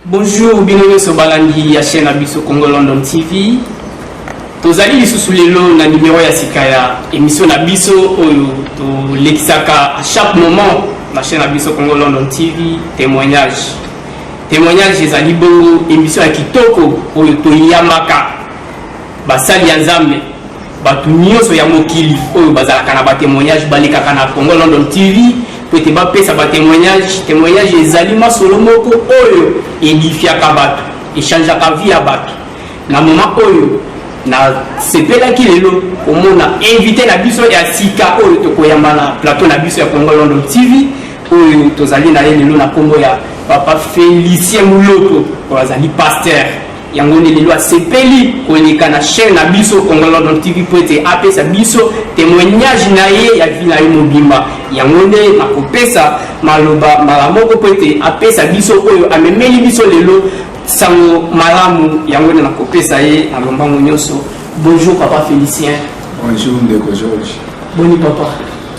Bonjour bino nyoso balandi ya chaine na biso Congo London TV. Tozali lisusu lelo na numero ya sika ya emission na biso oyo tolekisaka à chaque moment na chaine na biso Congo London TV témoignage. Témoignage ezali bongo emission ya kitoko oyo toyamaka basali ya Nzambe bato nyonso ya mokili oyo bazalaka na batémoignage balekaka na Congo London TV mpo ete bapesa batemoignage temoignage ezali masolo moko oyo edifiaka bato echangeaka vie ya bato na moma oyo nasepelaki lelo komona invité na biso ya sika oyo tokoyamba na plateau na biso ya congo london tv oyo tozali na ye lelo na nkombo ya papa felicien muloko oyo azali pasteur Yango nde lelo asepeli koleka na chaine na biso Congo London TV mpo ete apesa biso temoignage na ye ya vie na ye mobimba. Yango nde nakopesa maloba mbala moko mpo ete apesa biso oyo amemeli biso lelo sango malamu. Yango nde nakopesa ye na lombango nyonso. Bonjour papa Felicien. Bonjour ndeko George. Boni papa.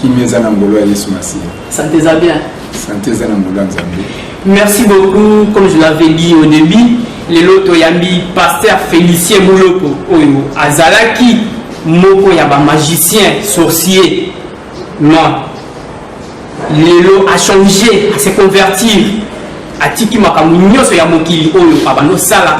Kimia eza na ngolo ya Yesu Masiya. Sante eza bien. Sante eza na mbula nzambe. Merci beaucoup comme je l'avais dit au début lelo toyambi pasteur Félicien Muloko oyo azalaki moko ya ba magicien sorcier non lelo achanger ase convertir atiki makambo nyonso ya mokili oyo abandosala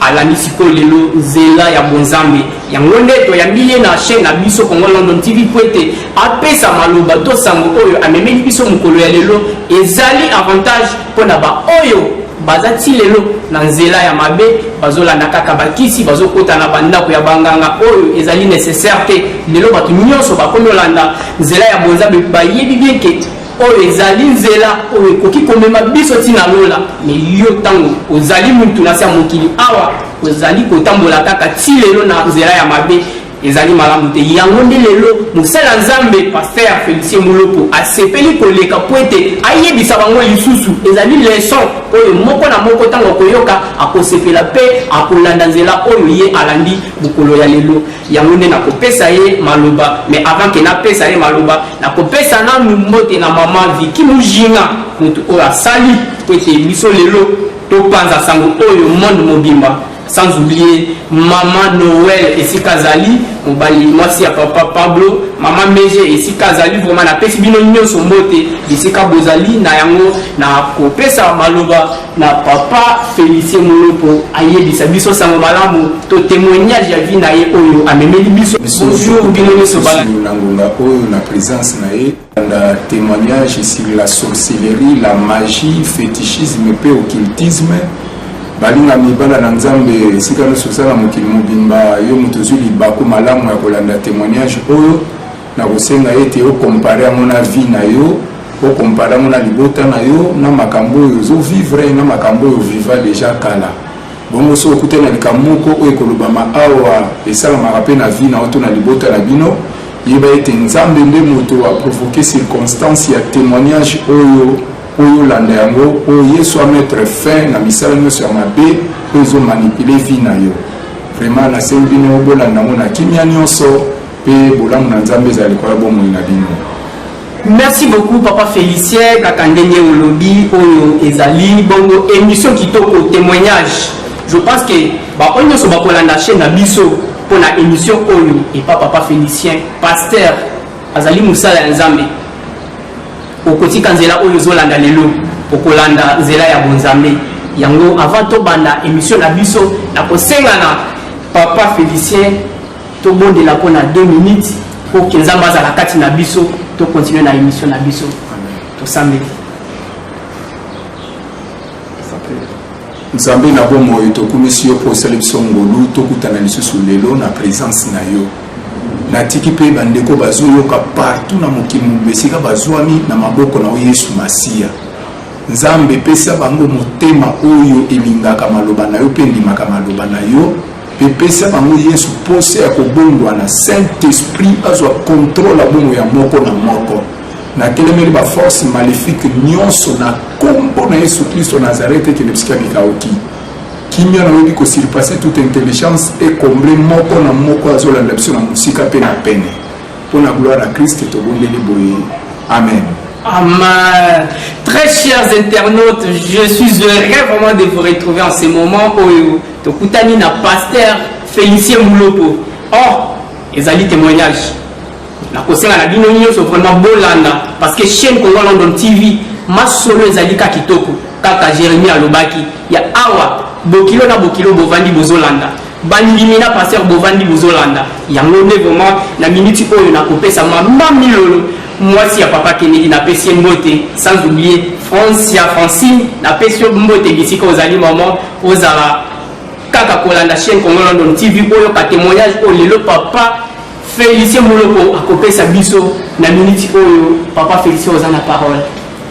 Alandi sikoyo lelo nzela ya bonzambe. Yango nde toyambi ye na chaine na biso Congo London TV mpo ete apesa maloba to sango oyo amemeli biso mokolo ya lelo. Ezali avantage mpo na ba oyo baza ti lelo na nzela ya mabe, bazolanda kaka bakisi, bazokota na ba ndako ya banganga oyo ezali necessaire te. Lelo bato nionso bakomi olanda nzela ya bonzambe bayebi bien ke Oyo ezali nzela oyo ekoki komema biso tii na lola. Me yo, ntango ozali mutu na se ya mokili awa, ozali kotambola kaka tii lelo na nzela ya mabe, ezali malamu te. Yango nde lelo mosali ya Nzambe, Pasteur Felicien Mulopo, asepeli koleka mpo ete ayebisa bango lisusu. Ezali leson oyo moko na moko ntango akoyoka, akosepela mpe akolanda nzela oyo ye alandi mokolo ya lelo. Yango nde na kopesa ye maloba mais avant que na pesa ye maloba na kopesa nanu mbote na maman Vicky Mujinga mutu oyo asali po ete biso lelo to panza sango oyo monde mobimba sans oublier maman Noël esika azali mobali mwasi ya papa Pablo maman Meje esika azali vraiment na pesi bino nionso mbote bisika bozali na yango na kopesa maloba na papa Felicien Moloko ayebisa biso sango malamu to témoignage ya vie na ye oyo amemeli biso bonjour bino nyonso bana na ngonga oyo na présence na ye na témoignage sur la sorcellerie la magie fétichisme mpe occultisme balinga mibala na nzambe esika nyonso oza na mokili mobimba yo moto ozwi libaku malamu ya kolanda témoignage oyo Nakosenga ete o comparer yango na vie na yo, o comparer yango na libota na yo, na makambo oyo ozo vivre, na makambo oyo o viva dejà kala. Bongo soki okutani na likambo moko oyo ekolobama awa, esalamaka mpe na vie na yo to na libota na bino, yeba ete Nzambe nde moto a provoquer circonstance ya temoignage oyo mpo yo olanda yango, mpo Yesu a mettre fin na misala nyonso ya mabe oyo ezo manipuler vie na yo. Vraiment nasengi bino bolanda yango na kimia nyonso. Mpe bolamu na Nzambe ezala likolo ya bomoi na bino. Merci beaucoup papa Felicien kaka ndenge olobi oyo ezali bongo emission kitoko temoignage je pense que ba oyo nyonso bakolanda chaîne na biso mpo na émission oyo epa papa Felicien pasteur azali mosala ya Nzambe okotika nzela oyo ozolanda lelo okolanda nzela ya bonzambe yango avant tobanda émission na biso na kosengana papa Felicien Tobondela mpo na deux minutes mpo ke Nzambe azala kati na biso, to continuer na emission na biso. Tosambeli. nzambe na bomoi tokumisi yo mpo osali biso ngolu tokutana lisusu lelo na présence na yo natiki mpe bandeko bazoyoka partout na mokili mobimba esika bazwami na maboko na yo yesu masiya nzambe pesa bango motema oyo elingaka maloba na yo mpe endimaka maloba na yo Mpe pesa bango Yesu mposa ya kobongwana, Saint-Esprit azwa controle ya bongo ya moko na moko. Natelemeli ba force malefique nyonso na kombo na Yesu Klisto Nazareth ekende bisika bikauki. Kimia na oyebi ko surpasser toute intelligence et combler moko na moko azolanda biso na mosika mpe na pene. Mpo na gloire ya Christ tobondeli boye. Amen. Amen. Très chers internautes, je suis heureux vraiment de vous retrouver en ce moment. Oyo. Tokutani na Pasteur Felicien Muloko. Oh, ezali temoignage. Nakosenga na bino nyonso vraiment bolanda parce que chaîne Congo London TV masolo ezali ka kitoko kaka Jeremie alobaki ya awa bokilo na bokilo bovandi bozolanda bandimi na pasteur bovandi bozolanda yango nde vraiment na miniti oyo nakopesa mama milolo Muasi ya papa kennedy na pesi ye mbote sans oublier francia francine na pesi yo mbote bisika ozali maman ozala kaka kolanda chaine congo london tv oyoka temoignage oyo lelo papa felicien moloko akopesa biso na minute oyo papa felicien oza na parole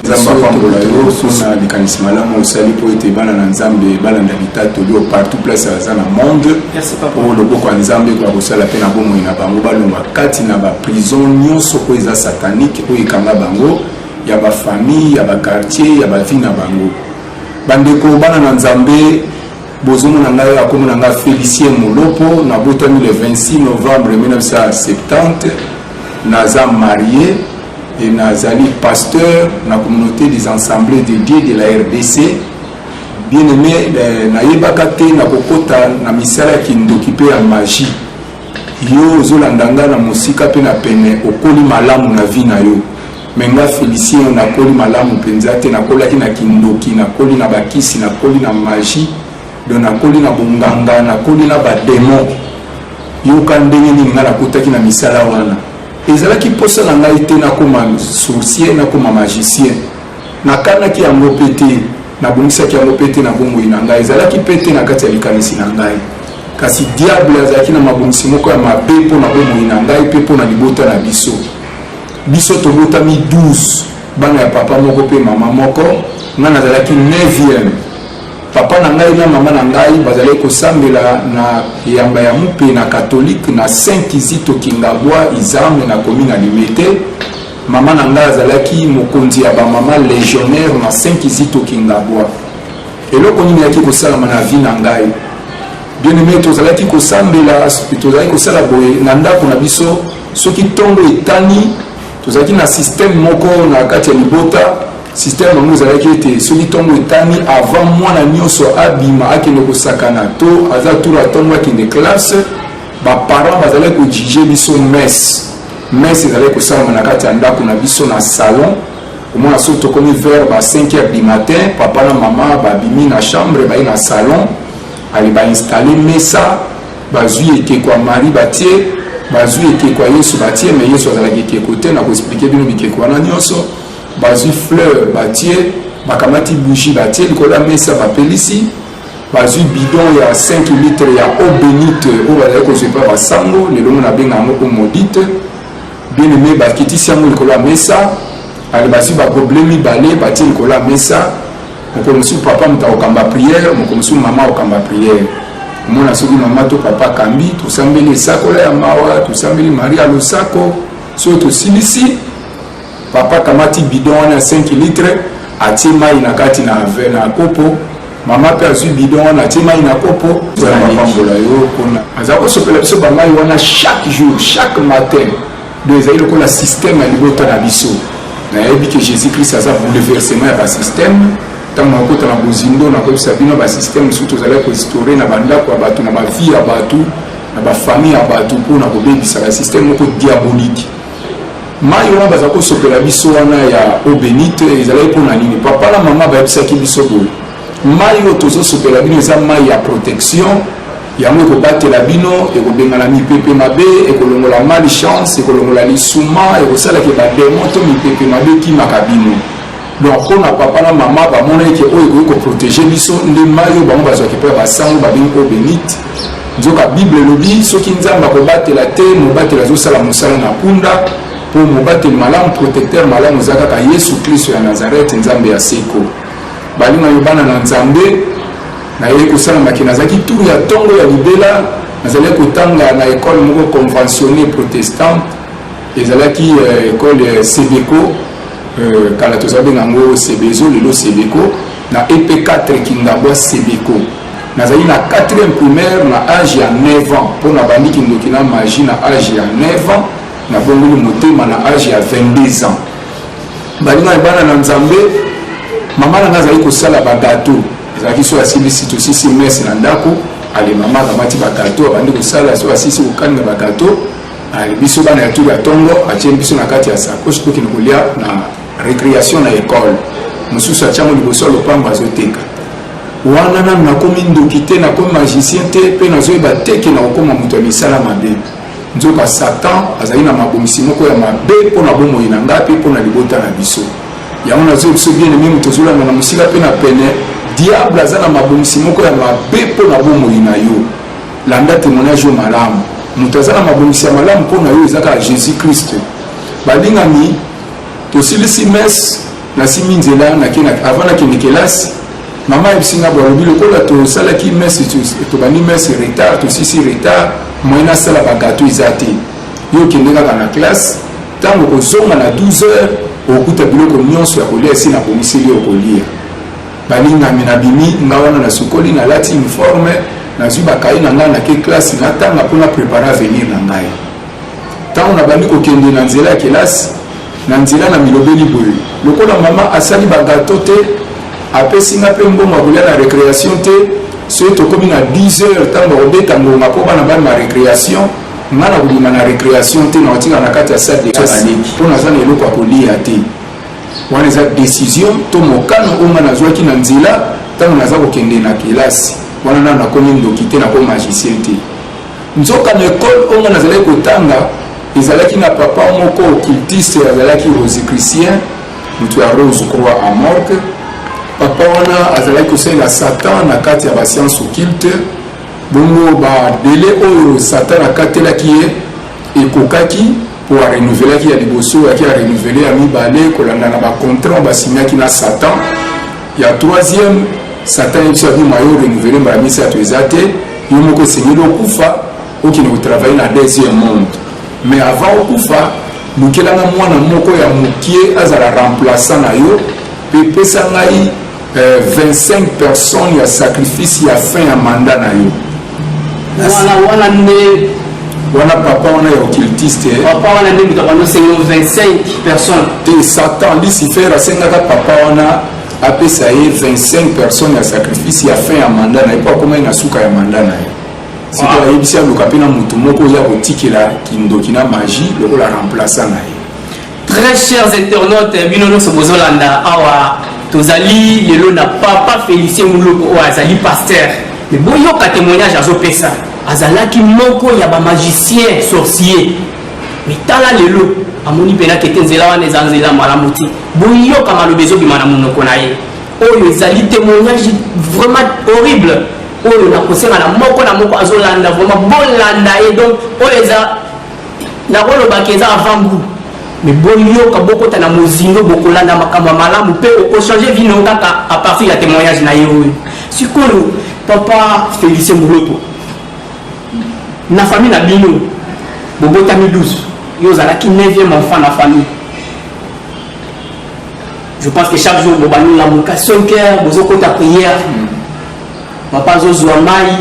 nzambe apambola yo mpona likanisi malamu osali mpo ete bana na nzambe balanda litatoli oyo partout place aza na monde oyo loboko ya nzambe ekoya kosala mpe na bomoi na bango balongwa kati na baprison nyonso oyo eza satanike oyo ekanga bango ya bafamille ya bakartier ya bavi na bango bandeko bana na nzambe bozomona ngai akomi na ngai félicien molopo nabotami le 26 novembre 1970 naza marie et nazali pasteur na communauté des ensembles de dieu de la rdc bien aimé eh, nayebaka te na kokota na misala ya kindoki mpe ya magie yo ozolanda nga na mosika mpe na pene okoli malamu na vie na yo me nga félicien yo nakoli malamu mpenza te nakolaki na kindoki nakoli na bakisi nakoli na magie do nakoli na bonganga nakoli na bademon yoka ndenge nini nga nakotaki na misala wana Ezalaki mposa na ngai te nakoma sorcier, nakoma magicien. Nakanaki yango mpe te, nabungisaki yango mpe te na bomoi na ngai. Ezalaki mpe te na kati ya likanisi na ngai. Kasi Diable azalaki na mabongisi moko ya mabe mpo na bomoi na ngai mpe mpo na libota na biso. Biso tobotami 12 bana ya papa moko mpe mama moko, ngai nazalaki 9e. Papa na ngai na mama na ngai bazalaki kosambela na eyamba ya mupe na katolike na Saint Kizito Kingabwa Izamwe na komi na Limete. Mama na ngai azalaki mokonzi ya bamama legionnaire na Saint Kizito Kingabwa. Eloko nini yaki kosalama na vie na ngai? Bien aimé, tozalaki kosambela, tozalaki kosala boye na ndako na biso, soki ntongo etani, tozalaki na système moko na kati ya libota Système yango ezalaki ete soki ntongo etani avant mwana nyonso abima akende kosakana to aza tour atongo akende classe baparent bazalaki kojuge biso messe messe ezalaki kosalama na kati ya ndako na biso na salon omona soki tokomi vers ba 5 heures du matin papa na mama babimi na chambre baye na salon ale bainstalle mesa bazwi ekeko ya marie batie bazwi ekeko ya yesu batie me yesu azalaki ekeko te na koexplike bino bikeko wana nyonso bazwi fleur batie bakamati bougie batie likolo ya mesa bapelisi bazwi bidon ya 5 litre ya eau benite oyo bazali kozwa epai basango lelo ngo nabenga yango eau modite bien aime bakitisi yango likolo ya mesa ale bazwi bagoble mibale batie likolo ya mesa mokolo mosusu papa moto akokamba priere mokolo mosusu mama akokamba priere omona soki mama to papa akambi tosambeli esakola ya mawa tosambeli maria losako soki tosilisi Papa akamati bidon wana ya 5 litre atie mai na kati na ve na kopo mama mpe azwi bidon wana atie mai na kopo apambola yo mpona aza kosopela biso bamai wana chaque jour chaque matin donc ezali lokola système ya libota na biso nayebi ke jésus christ aza bouleversement ya basystème ntango nakota na bozindo nakoyebisa bino basystème mosusu tozalaki koestore na bandako ya bato na bavie ya bato na bafamille ya bato mpo na kobebisa basystème moko diabolique Mayi wana baza kosopela biso wana ya eau benite ezalaki mpo na nini? Papa na mama bayebisaki biso boye, mayi oyo tozosopela bino eza mayi ya protection, yango ekobatela bino, ekobengana mipepe mabe, ekolongola malchance, ekolongola lisuma, ekosalaka bademo to mipepe mabe ekimaka bino. Donc mpo na papa na mama bamonaki ke oyo ekoki koprotege biso nde mai oyo bango bazwaki mpo ya basango babengi eau benite nzoka bible elobi soki nzambe akobatela te mobateli azosala mosala na kunda mpo mobateli malamu protecteur malamu eza kaka yesu kristo ya nazarete nzambe ya seko balingani bana na nzambe nayei kosala maki nazalaki tour ya ntongo ya libela nazalaki kotanga na ekole moko conventionne protestante ezalaki euh, ekole euh, sebeco euh, kala toza benga yango sebezo lelo sebeco na ep 4 kingabwa sebeco nazali na 4e primaire na age ya 9 ans mpo nabandi kindoki na magie na age ya 9 ans nabongoli motema na age ya 22 ans baninga ya bana na nzambe mama na ngai azali kosala bagato ezalaki so asilisi tosisi mese na ndako alemamaka mati bagato abandi kosala so asisi kokalinga bagato Allez, biso bana ya tour ya tongo atie biso na kati ya sakosi tokende kolia na récréation na école mosusu atiango liboso ya lopango azoteka wana nanu nakomi ndoki te nakomi magicien te mpe nazoyeba te ke nakokoma moto ya misala mabe nzoka satan azali na mabongisi moko ya mabe mpo na bomoi na ngai mpe mpo na libota na biso yango nazoyi biso bien eme moto ozolanda na mosika mpe na pene diable aza na mabongisi moko ya mabe mpo na bomoi na yo Landa temoignage oyo malamu. Moto aza na mabongisi ya malamu mpo na yo eza kaka Jesus Christ. Balingami, tosilisi messe, nasimbi nzela nake na avant nakende kelasi, mama ayebisi nga balobi lokola tosalaki messe, tobandi messe retard, tosisi retard, moyen asala ba gâteau eza te. Yo okende kaka na classe, ntango okozonga na 12 heures okokuta biloko nyonso ya kolia esi nabongiseli yo okolia. Balingami, Nabimi nga wana, nasukoli, nalati uniforme, nazwi ba cahiers na ngai, nake classe natanga mpo na preparer avenir na ngai. Ntango nabandi kokende na nzela ya kelasi, na nzela namilobeli boye, lokola mama asali ba gateaux te, apesi nga mpe mbongo ya kolya na recreation te, soki tokomi na 10 heures ntango bakobeta ngonga mpo bana bayema recreation, nga nakobima na recreation te, nakotikala na kati ya salle de classe mpo naza na eloko ya koliya te. wana eza decision to mokano oyo ngai nazwaki na nzela ntango naza kokende na kelasi wana nano nakomi ndoki te nakomi magicien te nzoka na ekole oyo ngai nazalaki kotanga ezalaki na papa moko occultiste azalaki rosicritien moto ya rose croix a morgue papa wana azalaki kosalela satan na kati ya basiance occulte bongo badele oyo satan akatelaki ye ekokaki mpo a renouvelaki ya liboso yaki a renouvele ya mibale kolanda na bacontrat basignaki na satan ya troisième satan ye biso abima yo renouvele mbala misato eza te yo moko esengeli okufa okende kotravaille na deuxième monde mais avant okufa lukelanga mwana moko ya mokie azala remplaçant na yo mpe pesa ngai 25 personnes ya sacrifice ya fin ya mandat na yo wana wana nde wana papa wana ya occultiste eh. papa wana nde moto abanoseli 25 personnes te satan lucifer asengaka papa wana apesa ye 25 personnes ya sacrifice ya fin ya manda na ye mpo akomaki na suka ya manda na ye siko ayebisi aluka mpe na moto moko ya kotikela kindoki na magie lokola remplaçant na ye Très chers internautes, bino nionso bozolanda awa tozali lelo na papa Felicien Muloko oyo azali pasteur. Mais boyoka témoignage azopesa. Azalaki moko ya ba magicien sorcier. Mais tala lelo amoni mpena kete nzela wana eza nzela malamu te. Boyoka maloba ezobima na monoko na ye. Oyo ezali témoignage vraiment horrible oyo nakosenga na moko na moko azolanda vraiment bolanda ye donc oyo eza Nakoloba que eza avant gout. Mais boyoka, bokota na mozindo, bokolanda makambo ya malamu mpe okochange vie no kaka à partir ya temoignage na ye oyo. Sikoyo papa Felicien Moloto, na famille na bino bobotami 12 yo ozalaki 9e enfant na famille je pense que chaque jour bobandi lamuka 5 heures bozokota prière Papa azo zua mayi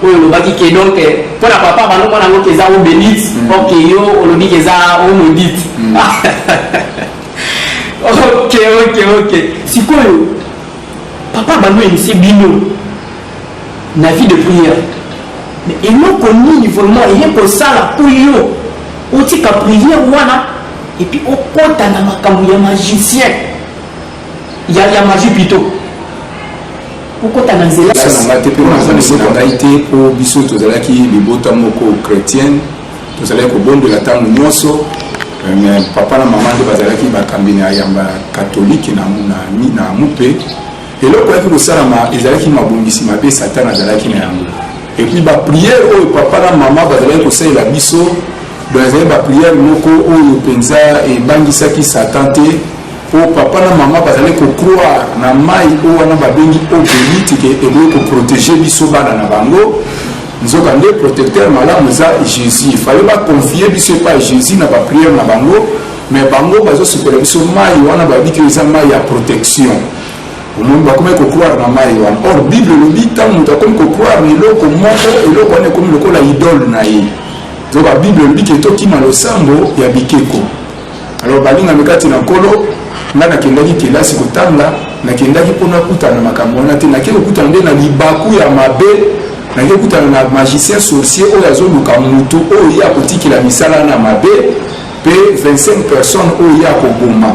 oyo olobaki ke donc mpo na papa bando mwana yango keza o benite mm. ok yo olobi keza o maudite mm. ok ok ok sikoyo papa bando emise bino na vie de prière mais eloko nini vraiment eye kosala mpo yo otika prière wana epuis okota na makambo ya magicien Ya ya magie pito okota na nzela place na ngai te mpe na nzambe na ngai te mpo biso tozalaki libota moko chretienne tozalaki kobondela ntango nyonso euh, me papa na mama nde bazalaki bakambi na yamba katolike na, na, na mupe eloko yaki kosalama ezalaki mabongisi mabe satana azalaki na yango epuis bapriere oyo papa na mama bazalaki kosalela biso donc ezalaki bapriere moko oyo mpenza ebangisaki satan te po papa na mama bazali kocroire na mai oyo wana babengi obelite ke ekoki koprotege biso bana na bango nzoka nde protecteur malamu eza jésus fale baconfie biso epai jésus na bapriere na bango me bango bazosukela biso mai wana bayebi ke eza mai ya protection omoni bakomaki kocroire na mai wana or bible elobi ntango moto akomi kocroire na eloko moko eloko wana ekomi lokola idole na ye nzoka bible elobi ke tokima losambo ya bikeko Alors balingami kati na Nkolo, ngai nakendaki kelasi kotanga, nakendaki mpo nakutana na makambo wana te, nake kokutana nde na libaku ya mabe, nake kokutana na magicien sorcier oyo azoluka moto oyo ye akotikela misala wana mabe, mpe 25 personnes oyo ye akoboma.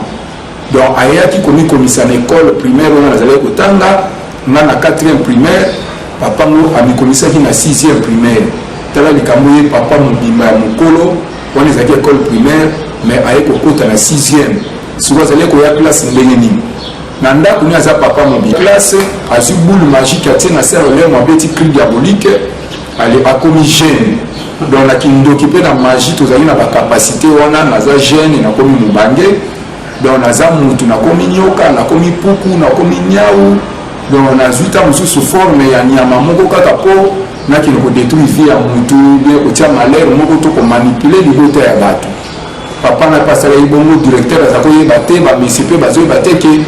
Donc ayaki komikomisa na ekole primaire wana nazalaki kotanga, ngai na 4e primaire, papa ngo amikomisaki na 6e primaire. Tala likambo ye papa mobimba ya mokolo wana ezalaki ecole primaire mais aye kokota na sixième soki azali koya classe ndenge nini na ndako ni aza papa mobi classe azwi boule magique atie na sere lemo abeti cri diabolique ale akomi jeune donc na kindoki mpe na magie tozali na bacapacité wana naza jeune nakomi mobange donc naza mutu nakomi nyoka nakomi puku nakomi nyau donc nazwi ta mosusu forme ya nyama moko kaka mpo nakende kodetruire vie ya motu bie kotia malere moko to komanipule libota ya bato papa na mpe asalaki bongo directeur aza koyeba te bamesi mpe bazoyeba te ke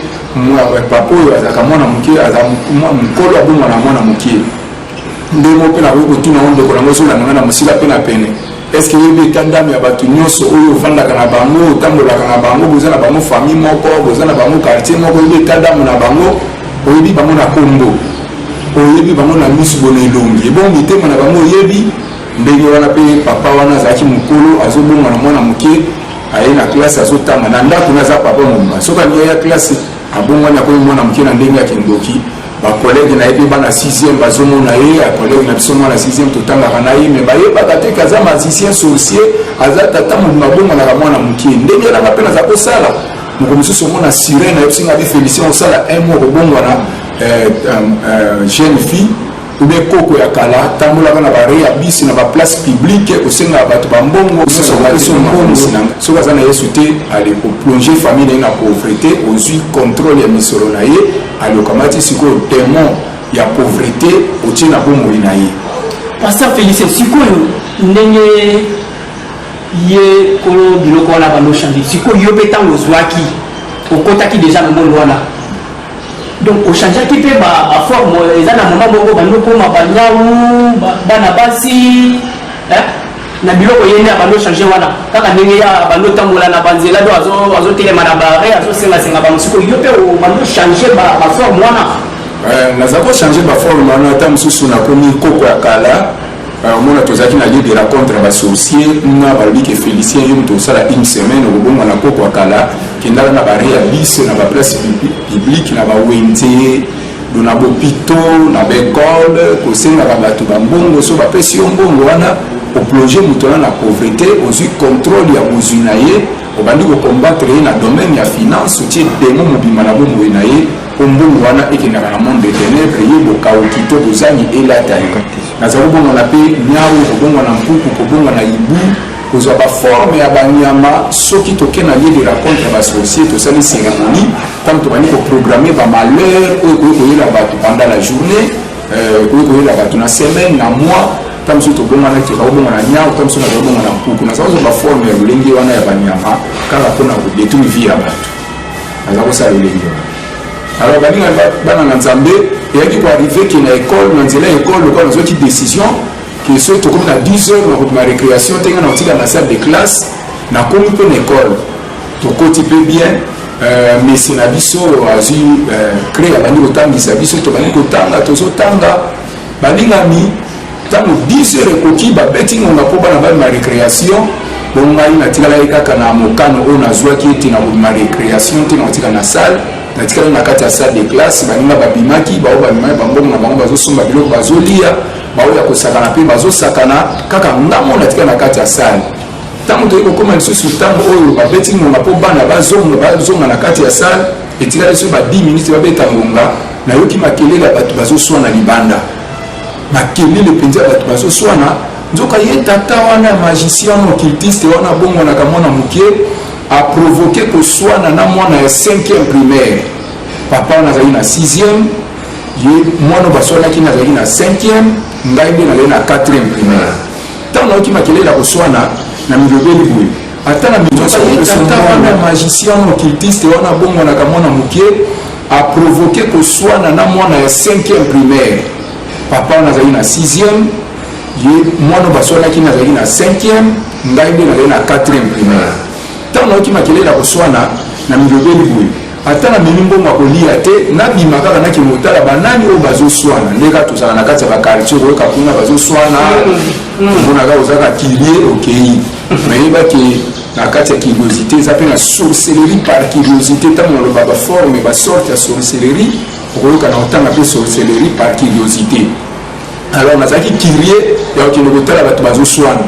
papa oyo azalaka mwana moke aza mokolo abomwana mwana moke ndenge moko mpe nakoki kotuna o ndeko nango ezolanda ngai na mosika mpe na pene Est-ce que oyebi eta ndame ya bato nyonso oyo ofandaka na bango, otambolaka na bango, boza na bango famille moko, boza na bango quartier moko, oyebi eta ndame na bango, oyebi bango na kombo, oyebi bango na misu bona elongi, ebongo mitema na bango oyebi ndenge wana. Mpe papa wana azalaki mokolo, azobonga na mwana moke, aye na klase, azotanga na ndako, naza papa mobimba, soki alingi aya klase abongwani akomi mwana moke na ndenge ya kindoki. ba collègue na ye mpe bana 6e bazomona ye ya collègue na biso mwana 6e totangaka na ye me bayebaka te ke aza magicien sorcier aza tata mobima abongwanaka mwana moke ndenge nanga mpe naza kosala moko mosusu omona sirene ayebisi nga bi félicien osala un mois kobongwana euh, euh, euh, jeune fille obe koko ya kala tambolaka na bare ya bisi na baplace publique kosengaka bato bambongo soki aza na yesu te ale koplonge famille na ye na pauvrete ozwi contrôle ya misolo na ye Alo okamati sikoyo demon ya pauvrete otie na bomoi na ye. Pasteur Felicien sikoyo ndenge ye kolo biloko wana bando change sikoyo yo mpe ntango ozwaki okotaki deja na monde wana donc ochangeaki mpe baforme eza na mama moko bando koma banyawu bana basi na biloko yende abando changer wana kaka ndenge ya bando tambola na banzela do azo azo telema na bare azo senga senga ba musiko yo pe obando changer ba ba forme wana euh, naza ko changer ba forme wana ata mususu na komi koko ya kala euh, omona tozalaki na lieu de rencontre ya basorcier na balobi ke félicien yo moto osala une semaine okobonga na koko ya kala kendala na barealise na baplace publique na bawenze na bopito na baekole kosengaka bato bambongo so bapesi yo mbongo wana oplonge moto wana na pauvrete ozwi controle ya bozwi na ye obandi kokombatre ye na domaine ya finance otie demo mobimba na bomoi na ye mpo mbongo wana ekendaka na monde de ténèbre ye bokauki to bozangi elata ye naza kobongwana mpe nyau kobongwana mpuku kobongwana ibu kozwa baforme ya banyama soki toke na lieu de racontre ya basorcier tosali cérémonie Comme tobandi ko programmer ba malheurs oyo ekoki koyela bato pendant la journée, euh, ekoki koyela bato na semaine, na mois, ta mosusu tobonganaki bakobonga na nyau ta mosusu nazobonga na mpuku naza kozwa baforme ya lolenge wana ya banyama kaka mpona kodetruire vie ya bato naza kosala lolenge wana alors baninga bana na nzambe eyaki koarrive ke na ekole na nzela ya ekole lokola nazwaki décision ke soki tokomi na 10 heures nakobima récréation te ngai nakotika na salle de classe nakomi mpe na ekole tokoti mpe bien euh, mese na biso azwi euh, cre abandi kotangisa biso tobandi kotanga tozotanga balingami ntango 10 heure ekoki babeti ngonga mpo bana bamema récréation bo ngai natikalaki kaka na mokano oyo nazwaki ete nakobima récréation te nakotika na salle natikali na kati ya salle de classe baninga babimaki baoyo babimaki bango na bango bazosomba biloko bazolia baoyo ya kosakana mpe bazosakana kaka ngambo natika na kati ya salle Ntango toyei kokoma lisusu ntango oyo babeti ngonga mpo bana bazonga bazonga na kati ya sale, etikali biso ba 10 minutes babeta ngonga, nayoki makelele ya bato bazoswana libanda, makelele mpenza ya bato bazoswana. Nzoka ye tata wana ya magicien wana occultiste wana abongwanaka mwana moke aprovoke koswana na mwana ya 5e primaire. Papa wana azali na 6e, ye mwana baswanaki na azalaki na 5e, ngai nde nazali na 4e primaire. Ntango nayoki makelele ya koswana, namilobeli boye, Ata na mituka mpe tata wana magicien occultiste wana abongwanaka mwana moke aprovoke koswana na mwana ya 5e primaire papa wana azali na 6e ye mwana baswanaki na azalaki na 5e ngai nde nazali na 4e primaire ntango nayoki makelele ya koswana na milobeli boye Ata na memi mbongo ya koliya te nabima kaka nakende kotala banani oyo bazoswana nde kaka tozala na kati ya bakartier okoyoka kuna bazoswana omonaka ozaka kilie okei nayeba ke na kati ya curiosité eza mpe na sorcellerie par curiosité ntango naloba baforme basorte ya sorcellerie okoyoka na otanga mpe sorcellerie par curiosité alors nazalaki kirie ya kokende kotala bato bazoswana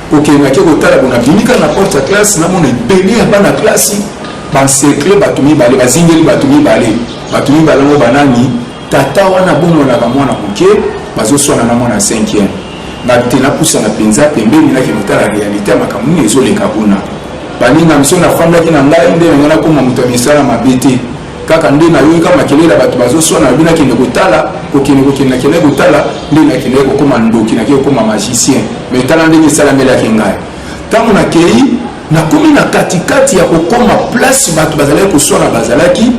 kokendaki kotala bona bimika na porte ya classe namona ebele ya bana classe Ba encercler batu mibale, ba zingeli batu mibale. Batu mibale yango ba nani? Tata wana abongwanaka mwana moke, bazoswana na mwana ya cinquième. Nga te napusana mpenza pembeni, nakende kotala realite ya makambo nini ezoleka kuna. Baninga miso nafandaki na ngai nde na ngai nakoma moto ya misala mabe te. Kaka nde nayoki kaka makelele ya bato bazoswana, nabi nakende kotala, kokende kokende nakende kotala, nde nakende kokoma ndoki, nakende kokoma magicien. Mais tala ndenge esalamelaki ngai. Ntango nakei Nakomi na kati kati ya kokoma place bato bazalaki koswana bazalaki,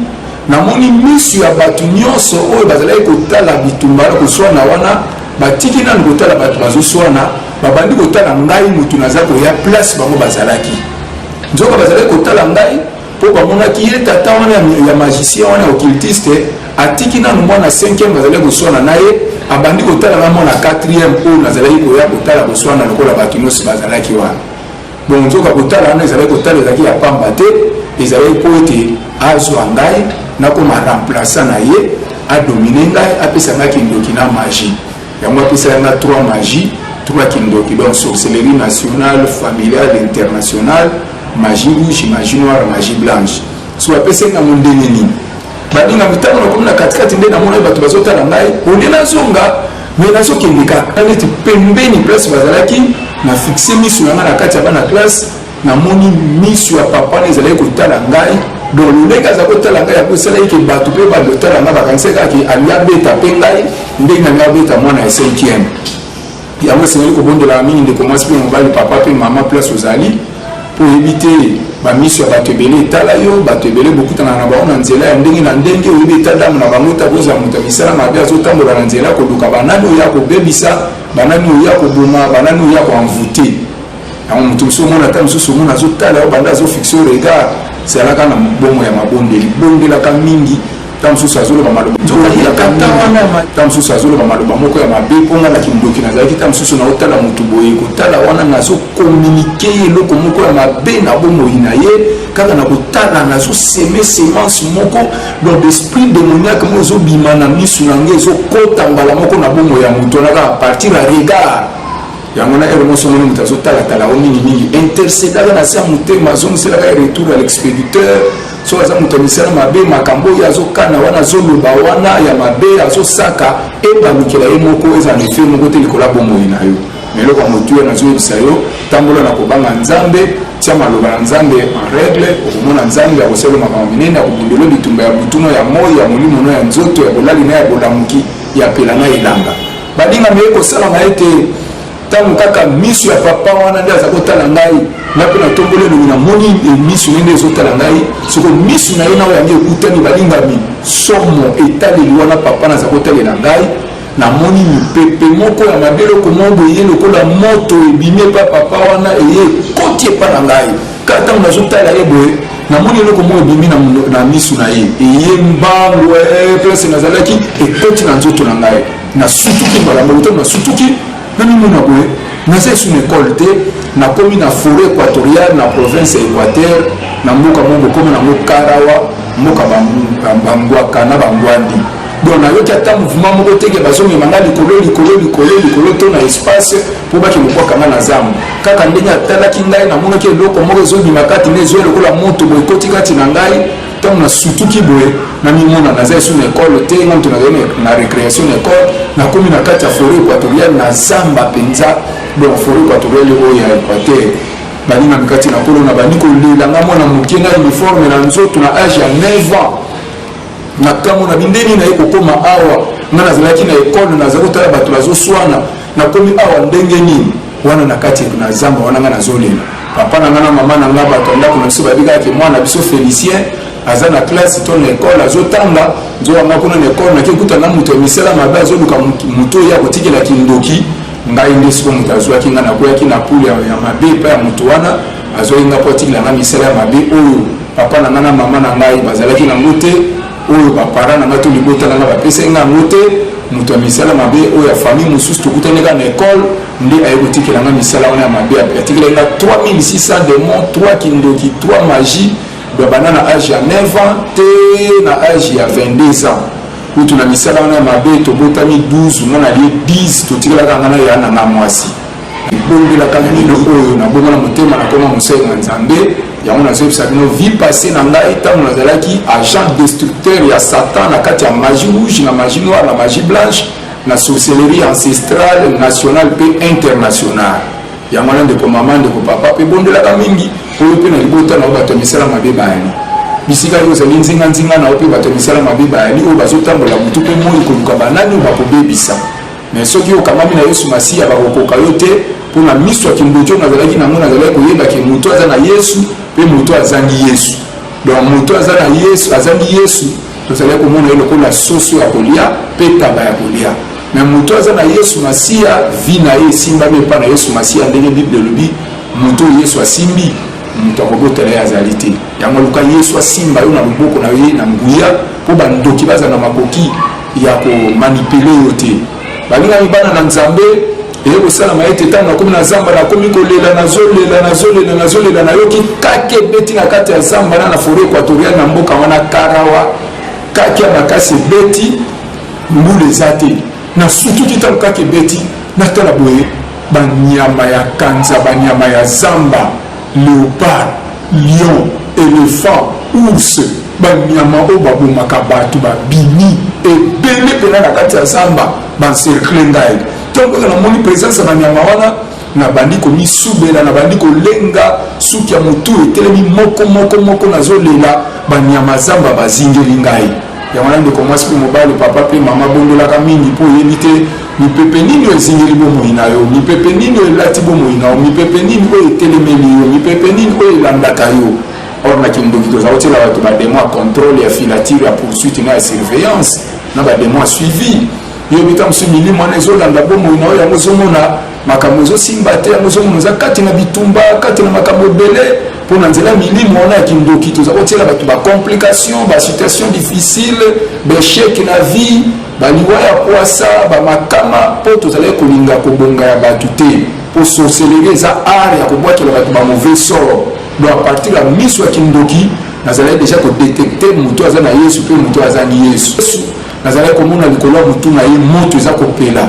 namoni misu ya bato nyonso oyo bazalaki kotala bitumba na koswana wana, batiki nanu kotala bato bazoswana, babandi kotala ngai motu naza koya place bango bazalaki. Nzoka bazalaki kotala ngai po bamonaki ye tata wana ya magicien wana ya occultiste atiki nanu mwana 5e bazali koswana na ye abandi kotala na mwana 4e oyo nazalaki koya kotala koswana lokola bato nyonso bazalaki wana Bongo nzoka kotala wana ezalaki kotala ezalaki ya pamba te, ezalaki mpo ete azwa ngai nakoma remplaçant na ye, adomine ngai, apesa ngai kindoki na magie. Yango apesaki ngai trois magie, trois kindoki, donc sorcellerie nationale, familiale, internationale, magie rouge, magie noire, magie blanche. So apesi ngai yango ndenge nini? Baninga mitango nakomi na katikati nde namonaki bato bazotala ngai, olie nazonga mais nazo kende kaka neti pembeni place bazalaki na fixe misu na ngai na kati ya bana classe namoni misu ya papa na ezalaki kotala ngai donc lolenge aza kotala ngai yango esalaki ke bato mpe bando otala ngai bakanisaki kaka ke alingi abeta mpe ngai ndenge na ngai abeta mwana ya cinquième yango esengeli kobondelaka mingi ndeko mwasi mpe mobali papa mpe mama place ozali Mpo oyebi te, bamiso ya bato ebele etala yo, bato ebele bokutanaka na bango na nzela ya ndenge na ndenge, oyebi etadamu na bango te, akozala moto ya misala mabe, azotambola na nzela koluka banani oyo akobebisa, banani oyo akoboma, banani oyo ako envoute. Yango moto mosusu omona ata mosusu omona azotala yo banda azofixe yo regard, zalaka na bongo ya mabondeli, bondelaka mingi. ntango mosusu azoloba maloba ntango mosusu azoloba maloba moko ya mabe mpo ngai na kindoki nazalaki ntango mosusu naotala motu boye kotala wana nazokominike ye eloko moko ya mabe na bomoi na ye kaka na kotala nazoseme semence moko donc esprit démoniaque moko ezobima na misu na ngai ezokota mbala moko na bomoi ya motu wana kaka partir ya regard yango na ere moso moni moto azotalatala o mingimingi intercedaka na se ya motema azongiselaka ye retour ya l'expéditeur soki aza moto ya misala mabe makambo oyo azokana wana azoloba wana ya mabe azosaka ebamikela ye moko eza na efe moko te likolo ya bomoi na yo na eloko ya motuya nazoyebisa yo tambola na kobanga nzambe tia maloba na nzambe en règle okomona nzambe akosala makambo minene akobundelo bitumba ya butuno ya moi ya molimo no ya nzoto ya bolali na ya bolamuki ya pela na elanga baninga meye kosalama ete Ntango kaka miso ya papa wana nde aza kotala ngai, ngai mpe natomboli elongi, namoni e miso ne nde ezotala ngai. Soko miso na ye na oyo yango ekutani, balingami somo etaleli wana papa naza kotalela ngai, namoni mipepe moko ya mabe eloko moko boye lokola moto ebimi epa papa wana eye ekoti epa na ngai kaka ntango nazotala ye boye namoni eloko moko ebimi na miso na ye eye mbangu eh, place nazalaki ekoti na nzoto na ngai nasutuki mbala moko to nasutuki namimona boye naza esu na ekole te nakomi na foret équatoriale na province ya équateur na mboka moko bokomi nango karawa mboka bambwaka na bambwandi donc nayoki ata mouvement moko teke bazongema nga likolo likolo likolo likolo to na espace mpo bake mobwaka nga na zambo kaka ndenge atalaki ngai namonaki eloko moko ezobima kati na ezoya lokola moto boye ekoti kati na ngai Ntango nasutuki boye, namimona naza esu na ekolo te, ngamto nazali na recreation na ekolo, nakomi na kati ya foret equatoriale na zamba mpenza, donc foret equatoriale oyo ya Equateur baninga mikati na kolo na bandi kolela nga mwana moke na uniforme na nzoto na age ya 9 ans na kambo na bindeni na ye kokoma awa nga nazalaki na ekole nazali kotala bato bazoswana Na komi awa ndenge nini? Wana na kati na zamba wana nga nazo lela. Papa na nga na mama na nga bato ya ndako na biso bayebi kaka ke mwana na biso Felicien aza na classe to na ekole azo tanga. Nzoka nga kuna na ekole nake kuta na moto ya misala mabe azo luka moto oyo akotikela kindoki. Ngai nde siko moto azwaki nga nakweyaki na pule ya mabe epai ya moto wana azwaki nga po atikela nga misala ya mabe oyo papa na nga na mama na ngai bazalaki na ngo te. oyo ba parents na ngai to libota na ngai bapesaki ngai yango te moto ya misala mabe oyo ya famille mosusu tokutani kaka na ekole nde aye kotikela ngai misala wana ya mabe atikelaki ngai 3600 demon 3 kindoki 3 magie babanda na age ya 9 ans te na age ya 22 ans kutu na misala wana ya mabe tobotami 12 mwana ye 10 totikelaka ngai na ya na ngai mwasi bobondelaka mino oyo nabongo na motema nakoma mosali na nzambe yango nazoyebisa bino vie passé na ngai ntango nazalaki agent destructeur ya satan na kati ya magie rouge na magie noire na magie blanche na sorcellerie ancestrale nationale mpe internationale yango wana ndeko mama ndeko papa mpe bondelaka mingi oyo mpe na libota na yo bato ya misala mabe bayani bisika yo ozali nzinganzinga na yo mpe bato ya misala mabe bayani oyo bazotambola motu mpe moi koluka banani oyo bakobebisa Mais soki okangami na Yesu Masiya bakokoka yo te mpo na miso ya kimbojo nazalaki nango nazalaki koyeba ke moto aza na Yesu mpe moto azangi Yesu donc moto aza na Yesu azangi Yesu tozalaki komona ye lokola soso ya kolia mpe taba ya kolia me moto aza na yesu masiya vi na ye esimbami epai na yesu masiya ndenge bible elobi moto oyo yesu asimbi moto akobotela ye azali te yango luka yesu asimba yo na loboko na ye na nguya mpo bandoki bazala na makoki ya ko manipuler yo te balingami bana na nzambe eye kosalama ete ntango nakomi na zamba nakomi kolela nazolela nazolela nazolela nayoki kaki ebeti na kati ya zamba na na foret équatoriale na mboka wana karawa kaki ya makasi ebeti mbula eza te nasutuki ntango kaki ebeti natala boye banyama ya kanza banyama ya zamba leopard Lion, elephant, ours, banyama oyo babomaka bato babimi ebele mpena na kati ya zamba bancercle ngai ntango kaka namoni presence ya banyama wana nabandi komisubela nabandi kolenga suki ya motu etelemi moko moko moko nazolela banyama zamba bazingeli ngai Yango wana ndeko mwasi mpe mobali, papa mpe mama, bondolaka mingi mpo oyebi te mipepe nini oyo ezingeli bomoi na yo, mipepe nini oyo elati bomoi na yo, mipepe nini oyo etelemeli yo, mipepe nini oyo elandaka yo. Or na kindoki toza kotyela bato bademo ya contrôle, ya filature, ya poursuite na ya surveillance na bademo ya suivi. yo bikamwisi milimo wana ezolanda bomoi na yo yango ozomona makambo ezosimba te yango ozomona oza kati na bitumba kati na makambo ebele mpo na nzela milimo wana ya kindoki toza kotiela bato bacomplication basituation difficile baechec na vie baliwa ya kwasa bamakama mpo tozalaki kolinga kobonga ya bato te mpo sorcellerie eza art ya kobwakela bato ba mauvais sort donc à partir ya miso ya kindoki nazalaki deja kodetecte moto aza na yesu mpe moto azangi yesu Nazalaki komona likolo ya motu na ye moto eza kopela,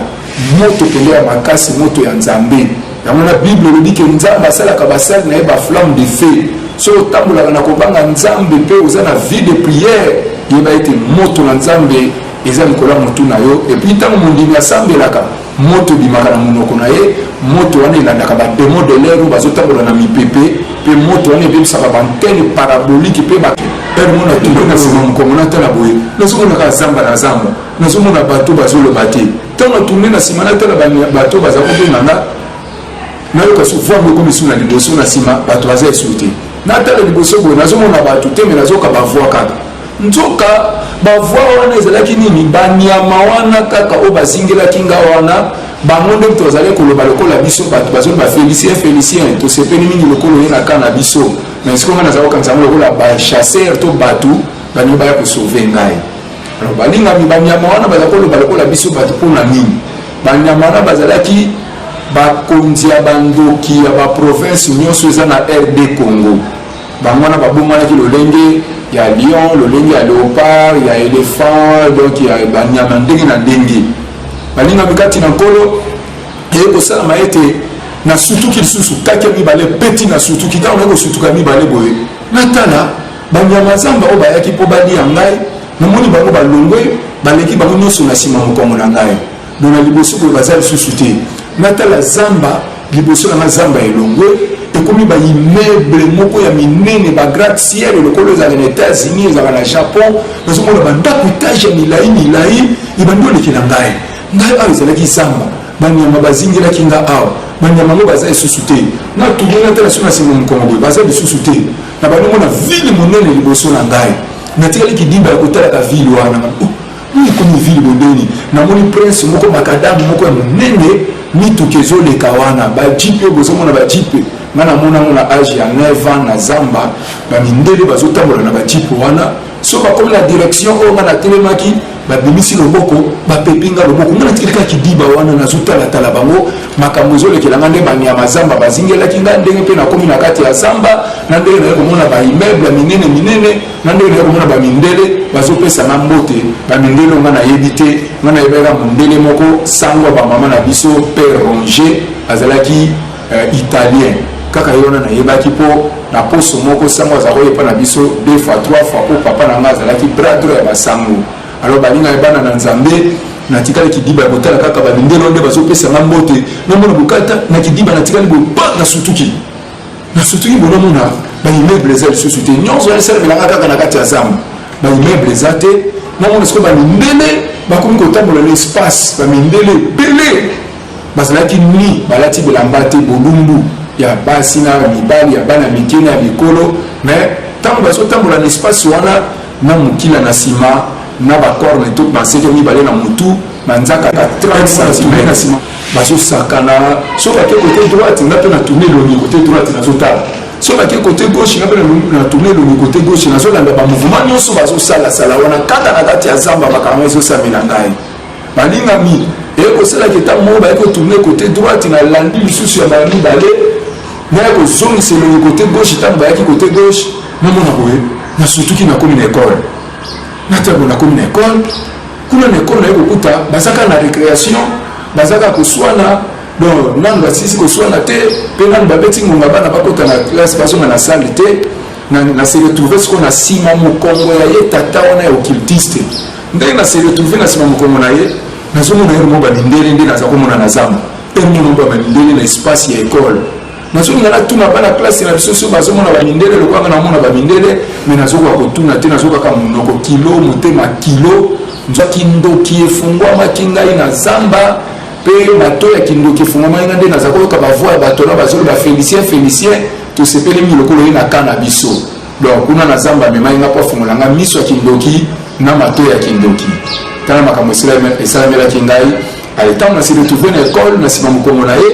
moto penza ya makasi, moto ya Nzambe. Yango wana Bible elobi ke Nzambe asalaka basali na ye ba flamme de feu. Soki otambolaka na kobanga Nzambe pe oza na vie de prière, yeba ete moto na Nzambe eza likolo ya motu na yo. Et puis tango mondimi asambelaka, Moto ebimaka na monoko na ye, moto wana elandaka ba demons de l'air oyo bazotambola na mipepe, mpe moto wana ebebisaka ba antennes paraboliques mpe ba. Heure moko natomboki na sima mokongo natala boye, nazomona kaka zamba na zamba, nazomona bateau bazoloba te. Tango na tourner na sima natala ba bateau baza kobenga nga, nayoka su voix moko ekomi su na liboso, na sima bato baza esu te. Natala liboso boye nazomona bato te mais nazoyoka ba voix kaka. Nzoka ba voix wana ezalaki nini? Ba nyama wana kaka oyo bazingelaki nga wana bango nde moto bazali koloba lokola biso bato bazali bafelicien felicien tosepeli mingi lokola oye na ka na biso na esiko ngai nazali kokanisa yango lokola bachasseur to bato balingi baya kosauve ngai alors balingami banyama wana bazali koloba lokola biso bato mpo na nini banyama wana bazalaki bakonzi ya bandoki ya baprovince nyonso eza na rd congo Bango wana babongwanaki lolenge ya lion, lolenge ya leopard, ya elephant, donc ya banyama ndenge na ndenge. Balingami kati na Nkolo, eye kosalama ete nasutuki lisusu kati ya mibale peti nasutuki ntango naye kosutuka mibale boye natala banyama zamba oyo bayaki mpo balia ngai namoni bango balongwe baleki bango nyonso na nsima mokongo na ngai Bon na liboso boye baza lisusu te natala zamba liboso na nga zamba elongwe ekomi ba immeuble moko ya minene ba gratte ciel lokola ezalaka na états-unis ezalaka na japon nazomona bandako etage ya milai milai ebandi oleki na ngai ngai awa ezalaki zamba banyama bazingelaki nga awa banyama yango baza lisusu te natuli natala so na nsima mokongo boye baza lisusu te na bandomona vile monene liboso na ngai natikali kidimba ya kotalaka vile wana Hum ekomi ville bondoni namoni prince moko makadame moko ya monene mituka ezoleka wana bajipe bozomona bajipe nga namonango na age ya 9 ans na zamba bamindele bazotambola na bajipe wana so bakomi na direction oyo nga natelemaki babimisi loboko bapepi nga loboko nga natiki kaka kidiba wana nazotalatala bango makambo ezolekela nga nde banyama zamba bazingelaki nga ndenge mpe nakomi na kati ya zamba na ndenge naye komona baimmeuble ya minene minene nga ndenge naye komona bamindele bazopesa nga mbote bamindele onga nayebi te nga nayebaka mondele moko sango ya bamama na biso père ronge azalaki uh, italien kaka ye wana nayebaki mpo na poso moko sango azalaka oyepa na biso deux fois trois fois mpo papa na nga azalaki bradro ya basango alors balingaki bana na nzambe natikali kidiba ya kotala kaka bamindele nde bazopesa nga mbote namona bokata na kidiba natikali bobanga sutuki na sotuki bonomona baimmeuble eza lisusu te nyonso wana esalamelaka kaka na kati ya zamba baimmeuble eza te namona sikoyo bamindele bakomi kotambola na espace bamindele ebele bazalaki ni balati bilamba te bolumbu ya basi na mibali ya bana mike na ya mikolo mais ntango bazotambola na espace wana na mokila na nsima na bacorne to banseke mibale na motu na nzaka 30 cm na nsima bazosakana soki ake kote droite nga mpe natuni elongi kote droite nazotala soki ake kote gauche nga mpe natuni elongi kote gauche nazolanda bamouvement nyonso bazosalasala wana kaka na kati ya zamba makambo ezosamela ngai balingami eye kosalaki ntango moko baye kotourne kote droite na landi lisusu ya mbala mibale naye kozongisa elongi kote gauche ntango bayaki kote gauche namona boye nasutuki nakomi na ekole na ntango nakomi na ekole Kuna na ekolo naye kokuta baza kaka na recreation, baza kaka koswana donc nanu basisi koswana te mpe nanu babeti ngonga bana bakota na classe bazonga na salle te na, na se retrouve sikoyo na nsima mokongo ya ye tata wana ya occultiste ndenge na se retrouve na nsima mokongo na ye nazomona ye mo bamindele nde naza komona na zamba mpe mono ba bamindele na espace ya ekole nazolinga natuna bana klase na biso soki bazomona bamindele lokwanga namona bamindele me nazokoka kotuna te nazokaka monoko kilo motema kilo nzwa kindoki efungwamaki ngai na zamba mpe bato ya kindoki efungwamaki ngai nde naza koyoka bavoi ya bato na bazoli bafelicien felicien tosepeli mingi lokola ye na ka na biso donc kuna na zamba amemaki ngai mpo afungola ngai miso ya kindoki na mato ya kindoki tala makambo esalamelaki ngai ale ntango na se retrouve na ekole na nsima mokongo na ye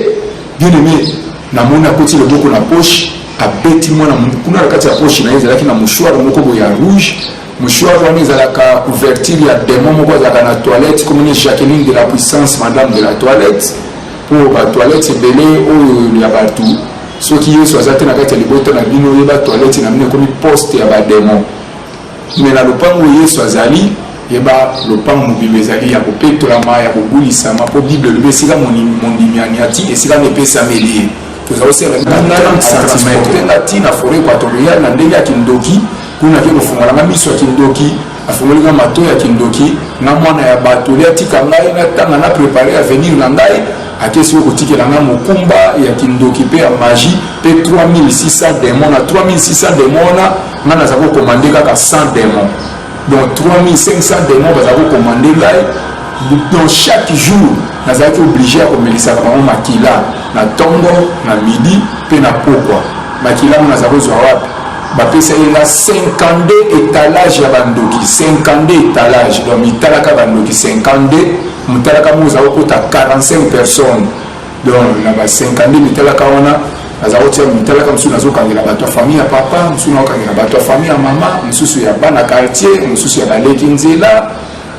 Bien aime na moni akoti loboko na poche abeti mwana kuna na kati ya poche na ye ezalaki na mouchoir moko boye ya rouge mouchoir wana ezalaka couverture ya demon moko azalaka na toilette komoni jacqueline de la puissance madame de la toilette mpo batoilette ebele oyo ya bato soki yesu aza te na kati ya libota na bino oyeba toilette na bino ekomi poste ya bademon Mais na lopango oyo Yesu azali, yeba lopango mobimba ezali ya kopetolama, ya kobulisama, mpo Bible elobi esika mondimi aniati, esika wana epesameli ye. Toza kosala transporte nga ti na foret equatoriale na ndenge ya kindoki, kuna ake kofungola nga miso ya kindoki, afungoli nga mato ya kindoki, nga mwana ya bato, olia tika ngai natanga na prepare avenir na ngai, ake siko kotikela nga mokumba ya kindoki mpe ya magie, mpe 3600 demon, na 3600 demon wana Nga naza ko commande kaka 100 demon donc 3500 demon baza ko commande ngai donc chaque jour nazalaki oblige ya komelisaka bango makila na ntongo na midi mpe na pokwa makila ngo naza kozwa wapi bapesaki nga 52 etalage ya bandoki 52 etalage donc mitalaka bandoki 52 motalaka moko eza kokota 45 personnes donc na ba 50 nde mitalaka wana naza kotia mitalaka mosusu nazokangela bato ya famille ya papa mosusu nakokangela bato ya famille ya mama mosusu ya bana quartier mosusu ya baleki nzela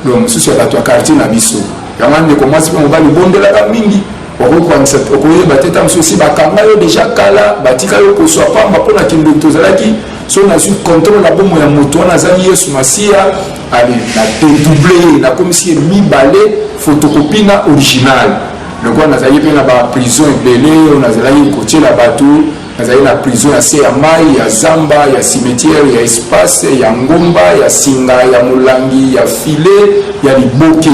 donc mosusu ya bato ya quartier na biso yango wana ndeko mwasi mpe mobali bondelaka mingi okokwanisa okoyeba te ntango mosusu esi bakanga yo deja kala batika yo koswa pamba mpo na kindoki tozalaki so nazwi controle ya bomo ya moto wana azangi yesu masiya ale na dedouble ye nakomisi ye mibale fotokopi na original lokola nazalaki mpe na baprison ebele oyo nazalaki kotyela bato nazali na prison ya se ya mai ya zamba ya cimetière ya espace ya ngomba ya singa ya molangi ya file ya liboke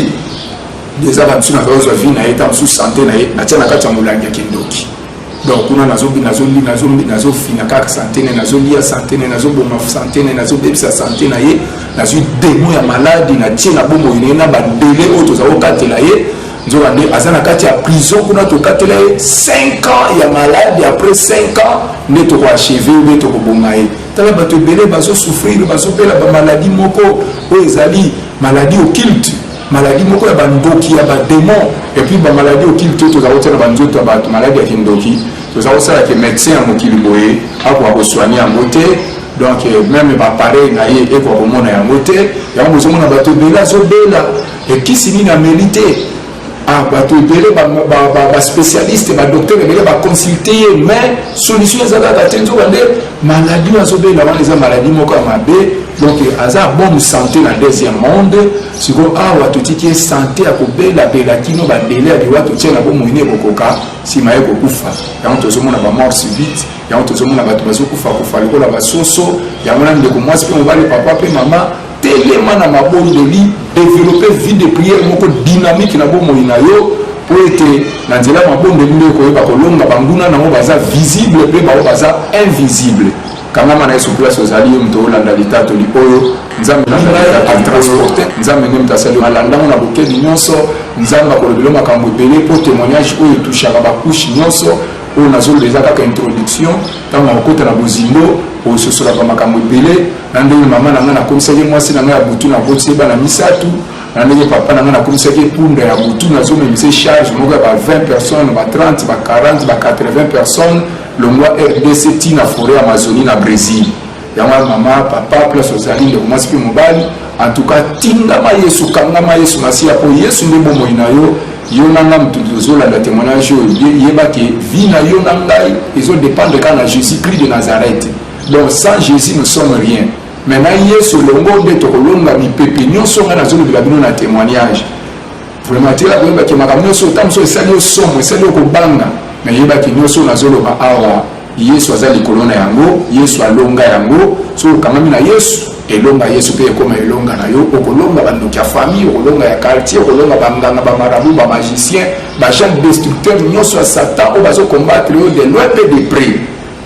eza bamosusu nazalaki ozwa vi na ye ta mosusu sante na ye natya na kati ya molangi ya kindoki donc kuna nazofina kaka sante ne nazolia sante ne nazoboma sante ne nazobebisa sante na ye nazwi demo ya maladi natie na bomoi na ye na bandele oyo toza kokatela ye nzoka nde aza na kati ya prison kuna tokatela ye 5 ans ya maladi après 5 ans nde tokoacheve nde tokoboma ye tala bato ebele bazosouffrir bazobela bamaladi moko oyo ezali maladi occulte maladie moko ya bandoki ya bademon epuis bamaladi okili te tozala kotia na banzoto ya bato maladi ya kindoki toza kosala ke médecin ya mokili boye akoka kosoigne yango te donc euh, meme bapareil na ye ekoka komona yango te yango bozomona bato ebele azobela ekisi nini ameli te ah, bato ebele baspécialiste badocteur ebele baconsulte ye mais solution eza kaka te nzoka nde maladi oyo azobela wana eza maladi moko ya mabe Donc aza bonne santé na deuxième monde siko awa totiki ye santé ya kobelabela kino badele ya liwa totie na bomoi ne ekokoka nsima ye kokufa yango tozomona bamort subite yango tozomona bato bazokufa kufa lokola basoso yango na ndeko mwasi mpe mobali papa mpe mama telema na mabondeli developpe vie de prière moko dynamique na bomoi na yo mpo ete na nzela ya mabondeli nde ekoyeba kolonga banguna na yango baza visible mpe bango baza invisible kangama na yesu place ozali yo moto olanda litatoli oyo nzambe natransporte nzambe nde moto asali malandango na bokebi nyonso nzambe akolobelo makambo ebele mpo témoignage oyo etushaka bakushe nyonso oyo nazoloba eza kaka introduction ntango nakokota na bozindo ososolaka makambo ebele na ndenge mama na ngai nakomisaki mwasi na ngai ya butu nabotisi ye bana misato na ndenge papa na ngai nakomisaki epunda ya butu nazomemisa charge moko ya ba 20 personnes ba 30 ba 40 ba 80 personnes Longwa rdc ti na foret Amazonie na Bresil. Yango ya mama, papa, place ozali ndeko mwasi mpe mobali, en tout cas tingama Yesu, kangama Yesu Masiya mpo Yesu nde bomoi na yo. Yo na nga moto tozolanda témoignage oyo yeba ke vie na yo na ngai ezo dépendre kaka na Jésus Christ de Nazareth. Donc sans Jésus nous sommes rien. Maintenant Yesu longo nde tokolonga mipepe nyonso ngai nazolobela bino na témoignage. Vraiment tela koyeba ke makambo nyonso ntango mosusu esali yo somo esali yo kobanga na yeba ke nyonso oyo nazoloba awa yesu aza likolo na yango yesu alonga yango soki okangami na yesu elonga yesu mpe ekoma elonga na yo okolonga bandoki ya famille okolonga ya quartier okolonga banganga bamarabu bamagicien bajeune destructeur nyonso ya satan oyo bazokombatre yo de loin mpe de près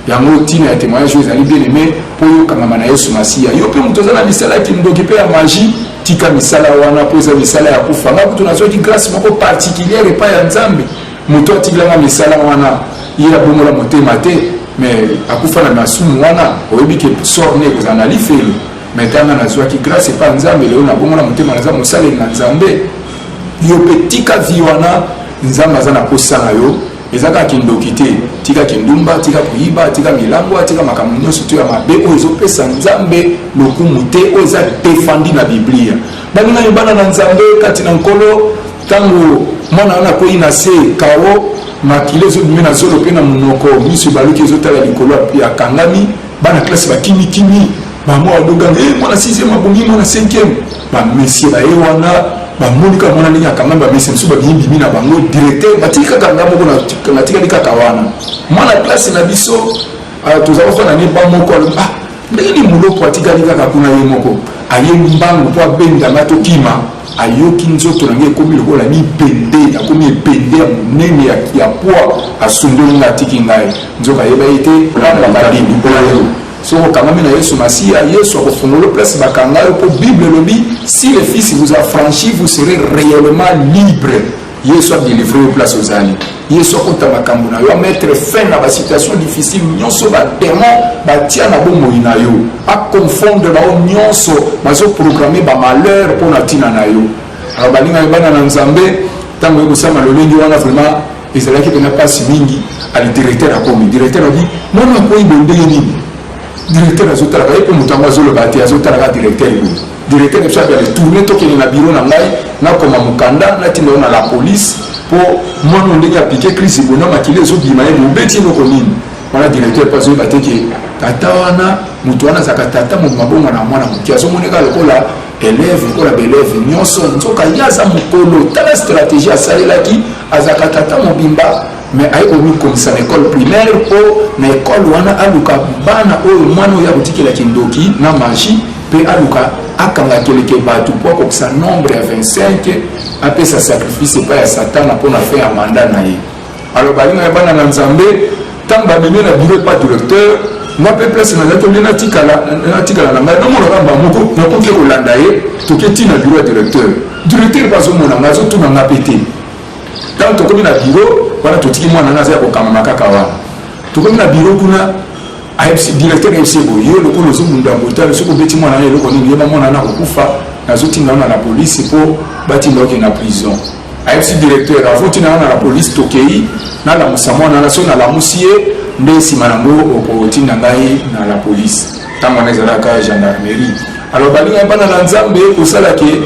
Yango ntina ya temoignage oyo ezali bien aime mpo yo kangama na Yesu Masiya. Yo mpe moto oza na misala ya kindoki mpe ya maji, tika misala wana mpo eza misala ya kufa. Nga kutu nazwaki grâce moko particulière epai ya Nzambe, moto atikelanga misala wana ye abongola motema te, mais akufa na masumu wana. Oyebi ke sort ne ekozala na lifelo, mais tanga nazwaki grâce epai ya Nzambe, lelo nabongola motema naza mosaleli na Nzambe. Yo mpe tika vie wana, Nzambe aza na posa na yo. Eza kaka kindoki te, tika kindumba, tika koyiba, tika milangwa, tika makambo nyonso to ya mabe oyo ezopesa Nzambe lokumu te, oyo eza defandi na Biblia. Baninga yo bana na Nzambe kati na Nkolo, ntango mwana wana akwei na se kao, makila ezobimi na zolo mpe na monoko, miso ebaluki ezotala likolo, akangami, bana klasi bakimikimi bango balogani e eh, mwana sixième abongi mwana cinquième bamesie baye wana bamoni kaka mwana ndenge akangami bamesie mosusu babimibimi na bango directeur batiki kaka nga moko natikali kaka wana mwana klase na biso ah, toza bafana ne ba moko alobi ah ndenge ni moloko atikali kaka kuna ye moko aye mbangu mpo abendanga tokima ayoki nzoto na ngai ekomi lokola mibende nakomi ebende ya monene ya pwa asundoli nga atiki ngai nzoka ayeba ye te olanda babimbi mpo na yo Soki okangami na Yesu Masiya, Yesu akofungola place bakanga yo, mpo Bible elobi si le fils vous affranchit vous serez réellement libre. Yesu adelivre yo place ozali. Yesu akota makambo na yo, amettre fin na basituation difficile nyonso bademo batia na bomoi na yo, aconfondre bango nyonso bazoprograme bamalheur mpo na ntina na yo. Alors balingaki bana na Nzambe, ntango ekosama lolenge wana vraiment Ezalaki pena pasi mingi ali directeur akomi directeur abi mwana akoyi bo ndenge nini directeur azotalaka ye mpe moto yango azoloba te azotalaka directeur ye directeur na biso abi ale tourne tokende na biro na ngai nakoma mokanda natinda yo na la police mpo mwana oyo ndenge aplike crise ebona makila ezobima ye mobeti eloko nini wana directeur mpe azoyeba te ke tata wana moto wana azalaka tata mobimabongo na mwana moke azomoneka lokola eleve lokola baeleve nyonso nzoka ye aza mokolo tala stratégie asalelaki azalaka tata mobimba me aye komikomisa na ekole primaire mpo na ekole wana aluka bana oyo mwana oyo akotikela kindoki na magie mpe aluka akanga keleke bato mpo akokisa nombre ya 25 apesa sacrifice epai ya satana mpo na fin ya manda na ye Alors balinga ya bana na Nzambe ntango bamemi na biro epa directeur nga mpe place na ngai tolie natikala na ngai namonaka mba moko nakoki te kolanda ye toke ti na biro ya directeur directeur mpe azomona ngai azotuna nga mpe te ntango tokomi na biro wana totiki mwana ngai aza ya kokamama kaka wana tokomi na biro kuna directeur ayebisi ye boye yo lokola ozobunda botale soki obeti mwana na eloko nini yeba mwana na kokufa nazotinda wana na polisi mpo batinda oke na prison ayebisi directeur avoti na nga na police tokei nalamusa mwana na so nalamusi ye nde nsima yango okotinda ngai na la police ntango wana ezalaka gendarmerie alors balingaki bana na nzambe kosala ke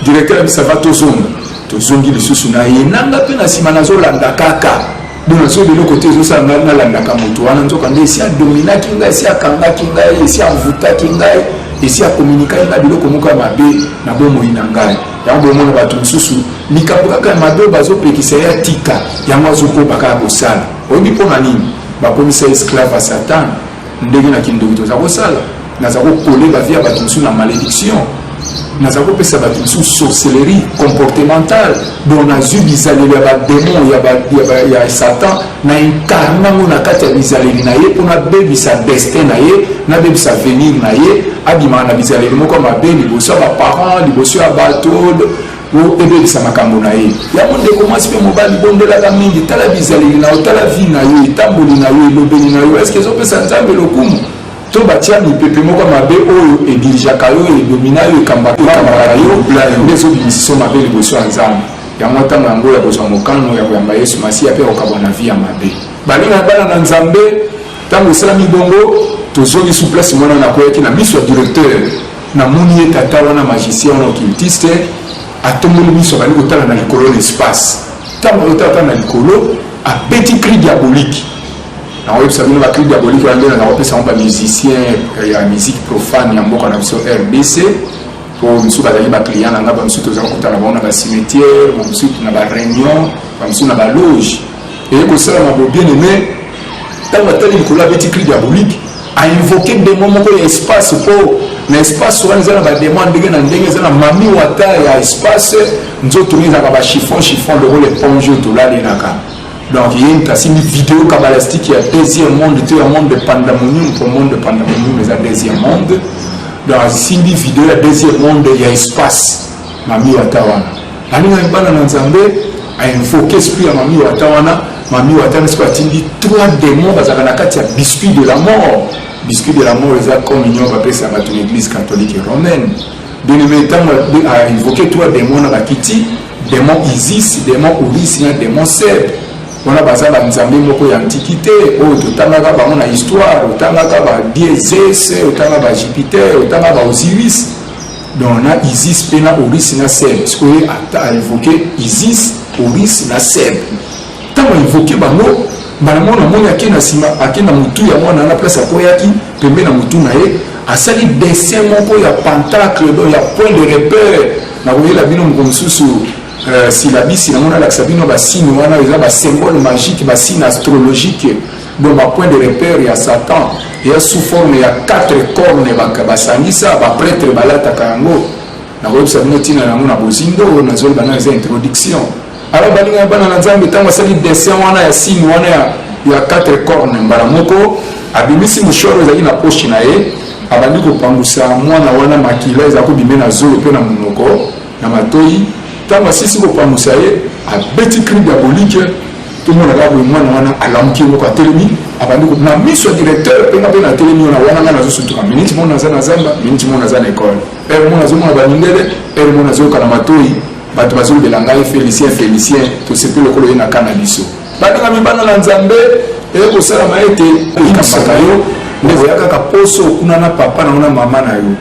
directeur abisava tozonga tozongi lisusu na ye nanga mpe na nsima nazolanda kaka donc nazo biloko te ezosala ngai nalandaka moto wana nzoka nde esi adominaki ngai esi akangaki ngai esi avutaki ngai esi akominikaki ngai biloko moko ya mabe na bomoi na ngai yango bomona bato mosusu likambo kaka ya mabe oyo bazopekisa ye atika yango azokoba kaka kosala oyebi mpo na nini bakomisa esclave ya satana ndenge na kindoki toza kosala naza kokole bavie ya bato mosusu na malédiction naza kopesa bato mosusu sorcellerie comportementale donc nazwi bizaleli ya bademon ya satan na incarne yango na kati ya bizaleli na ye mpo nabebisa destin na ye nabebisa venir na ye abimaka na bizaleli moko mabe liboso ya baparent liboso ya bato Mpo ebebisa makambo na ye. Yango ndeko mwasi mpe mobali, bondelaka mingi. Tala bizaleli na yo, tala vie na yo, etamboli na yo, elobeli na yo. Eske ezopesa Nzambe lokumu? To batia mipepe moko ya mabe oyo edirigeaka yo, edomina yo, ekambaka yo, nde ezobimisa iso mabe liboso ya Nzambe? Yango ntango yango ya kozwa mokano ya koyamba Yesu Masiya mpe ya kokabwa na vie ya mabe. Baninga ya bana na Nzambe, ntango esalami bongo, tozongi su place mwana na akweyaki na miso ya directeur. Na moni ye tata wana magicien wana occultiste atomboli miso abandi kotala na likolo na espace ntango azotala ta na likolo abeti cri diabolique nakoyebisa bino bacri diabolique wana nde naza kopesa yango bamusicien eh, ya musique profane ya mboka na biso rdc mpo mosusu bazali baclient na ngai bamosusu tozala kotala bango na bacimetière bamosusu na bareunion bamosusu na baloge eye kosalama bobiene mai ntango atali likolo abeti cri diabolique a invoquer demon moko ya espace po na espace wana eza na ba demon ndenge na ndenge eza na mami wata ya espace nzoto ezalaka ba chiffon chiffon lokola eponge oyo tolalinaka donc ye moto asimbi video kabalastique ya deuxième monde to ya monde de pandamonium po monde de pandamonium eza deuxième monde donc asimbi video ya deuxième monde ya espace Mami wata wana alingaki bana na nzambe ainvoke esprit ya mami wata wana mami wata na siko atindi trois démon bazalaka na kati ya biscuit de la mort biscuit de la mort eza communion bapesa bato na église catholique romaine deneme ntango ainvoke trois démon na bakiti démon isis démon uris na démon seb wana baza banzambe moko ya antikite oyo totangaka bango na histoire otangaka ba dieses otanga ba jupiter otanga ba osiris donc na isis mpe na oris na seb sikoyo a evoke isis oris na seb ntango aevoke bango mbala moko namoni ake na nsima ake na motu ya mwana na place akweyaki pembe na motu na ye asali dessin moko ya pentacle do ya point de repère na koyela bino moko mosusu euh, silabisi yango nalakisa bino basini wana eza basymbole magique basini astrologique Donc ba point de repère ya Satan ya sous forme ya quatre cornes basangisa ba prêtre balataka yango nakoyebisa bino ntina na yango na bozindo oyo nazoli bana eza introduction alors balinga bana na nzambe ntango asali dessin wana ya signe wana ya quatre corne mbala moko abimisi moshoro ezali na poche na ye abandi kopangusa mwana wana makila eza kobime na zolo mpe na monoko Na matoyi, tango asilisi kopangusa ye, abeti cri diabolique, tomona kaka boye mwana wana alamuki ye moko atelemi, abandi ko na miso ya directeur mpe nga mpe natelemi wana wana nga nazo sutuka minute moko naza na zamba, minute moko naza na ecole, heure moko nazomona ba mindele, heure moko nazoyoka na matoyi bato bazolobela ngai Felicien Felicien, tosepeli lokola oye na cas na biso. Baninga mibanga na Nzambe, eye kosalama ete eyikisaka yo nde koya kaka poso kuna na papa na yo na mama na yo.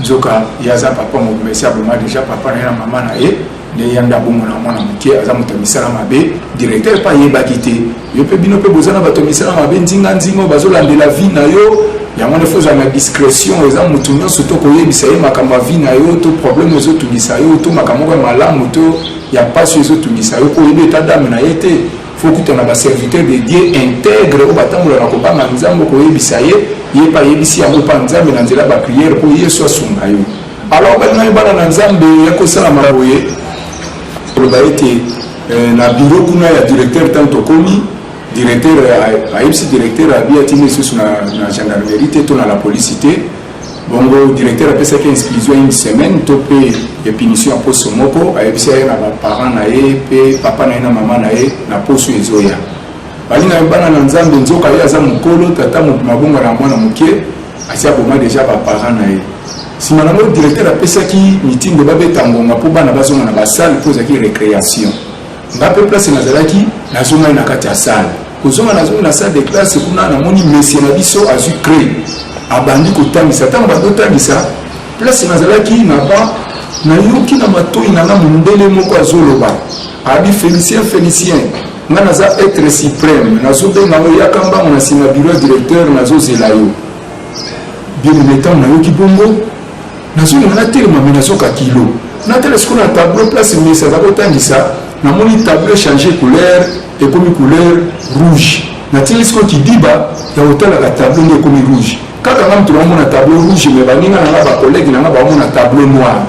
nzoka ye aza papa mobima esi aboma deja papa na ye na mama na ye nde ya nde abongona mwana moke aza moto ya misala mabe directeur mpe ayebaki te yo mpe bino mpe boza na bato ya misala mabe nzinganzinga oyo bazolandela vie na yo yango wana fozala na discrétion eza motu nyonso to koyebisa ye makambo ya vie na yo to problème ezotungisa yo to makambo moko ya malamu to ya mpasi ezotungisa yo oyebi eta dame na ye te faut kutana ba serviteur de Dieu integre oyo batambola na kobanga Nzambe koyebisa ye ye pa yebisi yango pa Nzambe na nzela ba prière po Yesu asunga yo alors balinga yo bana na Nzambe ya kosala maboye koloba ete euh, na bureau kuna ya directeur ntango tokomi directeur ayebisi directeur abi atindi lisusu na gendarmerie te to na la police te bongo directeur apesaki exclusion une semaine to mpe ya punition ya poso moko ayebisi aye na baparent na ye mpe papa na ye na mama na ye na poso ezoya balinga yo bana na nzambe nzoka ye aza mokolo tata mabongo na mwana moke asi aboma deja baparent na ye nsima na yango directeur apesaki mitindo babeta ngonga mpo bana bazonga na basale mpo ezalaki recréation nga mpe place nazalaki nazongaki na kati ya salle kozonga nazongi na salle de classe kuna namoni mesie na biso azwi cree abandi kotangisa ntango bandi otangisa place nazalaki na ba nayoki na matoi na nga mondele moko azoloba abi felicien felicien nga naza etre supreme nazobenga yo yaka mbango na nsima biro ya directeur nazozela yo bien ntango nayoki bongo Nazonga natelema me nazoka kilo natala sikoyo na tableau place mesa aza kotangisa namoni tableau change couleur ekomi couleur rouge natili sikoyo kidiba ya kotalaka tableau nde ekomi rouge kaka nga moto namona tableau rouge me baninga na nga bakolege na nga bamona tableau noir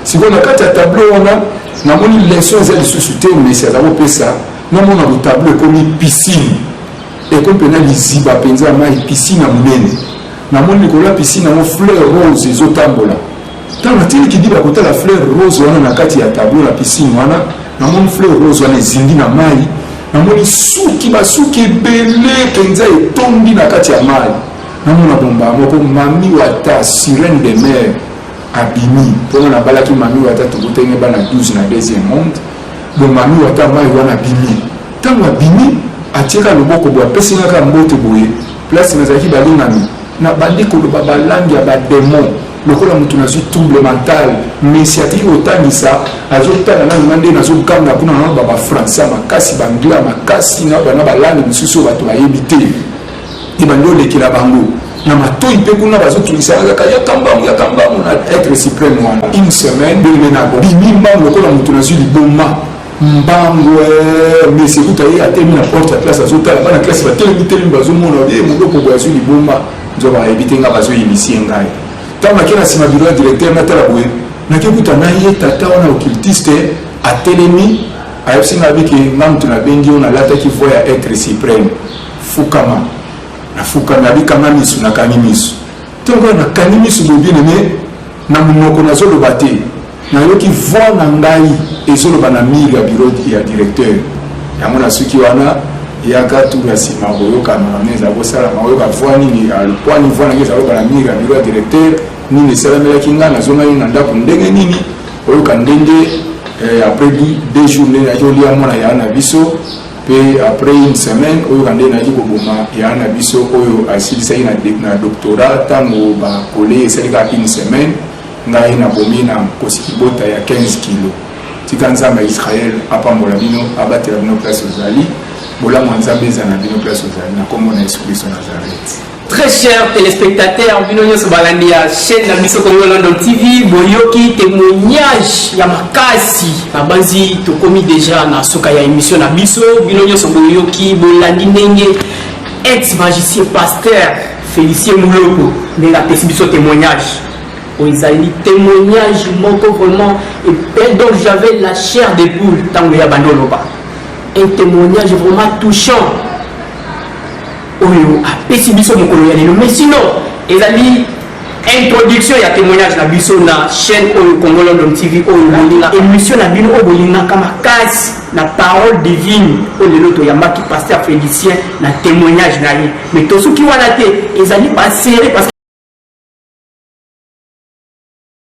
sikoyo na kati ya tableau wana namoni leson eza lisusu te mesi aza kopesa namona botableau ekomi piscine ekomi mpena liziba mpenza mai piscine ya monene Namoni likolo ya piscine yango fleur rose ezotambola. Ntango natindi kidiba kotala fleur rose wana na kati ya tableau na piscine wana, namoni fleur rose wana ezindi na mai, namoni suki basuki ebele mpenza etondi na kati ya mai. Namona bomba moko mami wata sirene de mer abimi mpona nabalaki mami wata tokutenge bana 12 na deuxième monde bo mami wata mai wana abimi ntango abimi atieka loboko bo apesi ngaka mbote boye Place nazalaki balingami na bandi koloba ba langue ya ba demon lokola moto nazwi trouble mental mesi atiki kotangisa azotala nanu nga nde nazoganga kuna na ba bafrançais ya makasi baanglais ya makasi na bana balangue mosusu oyo bato bayebi te ebandi olekela bango na matoi mpe kuna bazotungisa kaka yaka mbangu yaka mbangu na etre supreme wana une semaine bimi mbangu lokola moto nazwi liboma mbangwee mesi kuta ye atelemi na porte ya classe azotala bana classe batelemi telemi bazomona ye moloko boye azwi libomba nzoka ayebi te ngai bazoyebisi ye ngai ntango nake na nsima biro ya directeur natala boye nake kuta na ye tata wana occultiste atelemi ayebisi ngai abiki nga moto nabengi yo nalataki voi ya etre supreme fukama nafukami abikanga misu nakangi misu ntongo nakangi misu bobinene Na munoko nazo loba te nayoki voix na ngai ezo loba na mur ya bureau ya directeur yango na suki wana yaka tour ya sima koyoka na nini ezali kosalama oyoka voix nini ya lokwani voix na ngai ezali loba na mur ya bureau ya directeur nini esalamelaki ngai nazongaki na ndako ndenge nini oyoka ndenge eh, après deux jours ndenge nayaki olia mwana ya na biso Mpe après une semaine, oyoka nde nayaki koboma yaya na biso oyo asilisaki na, na doctorat ntango bakole esali kaka une semaine ngai nabomi na nkosi kibota ya 15 kilo tika nzambe ya israel apambola bino abatela bino place ozali bolamu ya nzambe ezala na bino place ozali na nkombo na yesu kristo nazareti Très chers telespectateurs, bino nyoso balandi ya chaîne na biso Congo London TV, boyoki témoignage ya makasi. Nabanzi tokomi déjà na suka ya émission na biso, bino nyoso boyoki bolandi ndenge ex magicien pasteur Félicien Muloko ndenge apesi biso témoignage. Oyo ezali témoignage moko vraiment et donc j'avais la chair de poule tango ya bando loba. Un témoignage vraiment touchant oyo apesi biso mokolo ya lelo mais sinon ezali introduction ya temoignage na biso na chaîne oyo Congo London TV oyo bolinga emission na bino oyo bolingaka makasi na parole divine oyo lelo toyambaki pasteur Félicien na temoignage na ye mais tosuki wana te ezali baserie